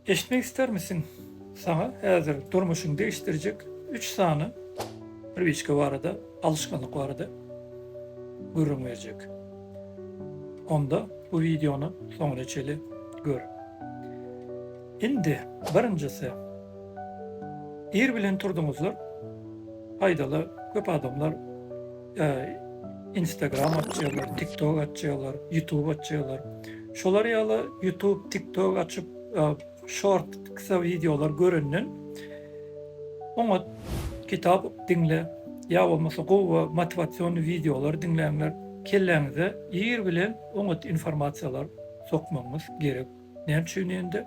Eşitmek istermisiň? Saňa häzir durmuşyňy degişdirjek üç sany priwiçka barada, alyşganlyk barada gürrüň berjek. Onda bu wideony soňuna çeli gör. Indi birinjisi. Ir bilen turduňyzlar. Paýdaly köp adamlar Instagram açýarlar, TikTok açýarlar, YouTube açýarlar. Şolar ýaly YouTube, TikTok açyp, short, kysga wideolar görenden oňat kitap diňle ýa bolmasa gowy motiwasion wideolar diňläňler. Kelläňize ir bilen oňat informasiýalar sokmagyňyz gerek. Näme üçin ýende?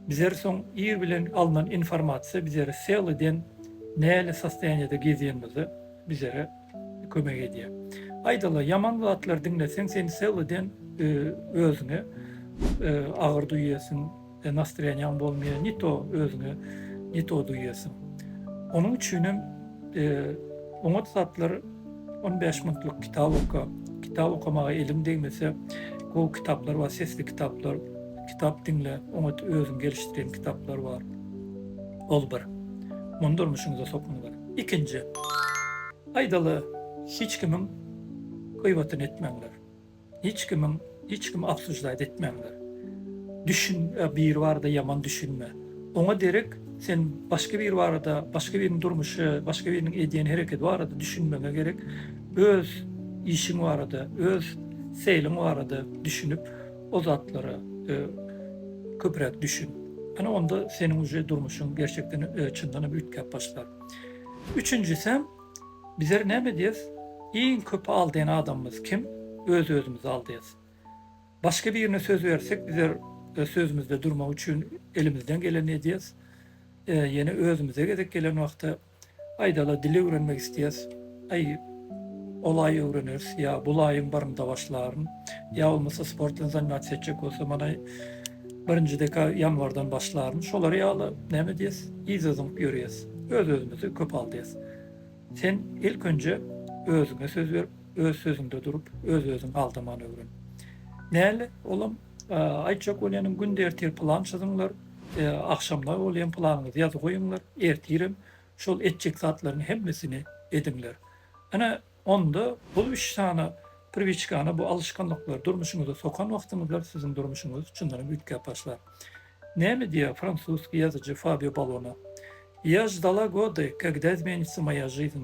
Bizler soň ir bilen alnan informasiýa bizleri seliden näli sostoýaniýada gezýänimizi bizere kömek edýä. Aýdala ýaman zatlar diňleseň seni sewleden özüňe agyr duýýasyň we nastrýanýaň bolmaýa ni to özüňe ni to duýýasyň. Onuň üçinem oňat zatlar on bäş minutlyk kitap oka, kitap okamaga eliň degmese gowy kitaplar bar sesli kitaplar kitap diňle oňat özüň gelişdiren kitaplar bar ol bir. Muny durmuşyňyza sokuň. Ikinji. Aýdaly, hiç kimiň gyýbatyny etmäňler. Hiç kimiň, hiç kimi obsuždaýt etmäňler. Düşün, biri barada ýaman düşünme. Oňa derek sen başga biri barada, başga biriniň durmuşy, başga biriniň edýän hereketi barada düşünmegiňe gerek, öz işiň barada, öz seýliň barada düşünip, O zatlara köpräk düşün. Ana onda seniň uje durmuşyň gerçekden çyndanam üýtgäp başlar. Üçünjisem bizler näme edýäs? Iň köp aldaýan adamymyz kim? Öz-özümizi aldaýas. Başga birine söz bersek bizler sözümizde durmak üçin elimizden geleni edýäs. Ýene özümize gezek gelen wagtda Aýdala dil öwrenmek isleýäs. Aý, olaý öwreneris ýa bulaýam barymda başlaryn. Ýa bolmasa sport bilen zannatiýa etjek bolsam anaý birinji deka ýanwardan başlaryn. Şolar ýaly näme diýes, yza zyňyp ýörýäs. Öz-özümizi köp aldaýas. Sen ilk önje özüňe söz berip, öz sözüňde durup, öz-özüňi aldaman öwren. Näl, olam Aýtjak bolýanym günde ertir plan çyzyňlar, agşamlar bolýan planyňyzy ýazyp goýuňlar, ertirem şol etjek zatlaryň hemmesini ediňler. Ine, onda bul üç sany priwiçkany, bu alyşganlyklary durmuşyňyza sokan wagtyňyzda siziň durmuşyňyz çyndanam üýtgäp başlar. Näme diýýär fransuzsky ýazyjy Fabio Balona, Ýa ždala gody, kagda izmenitsa moýa žiziň.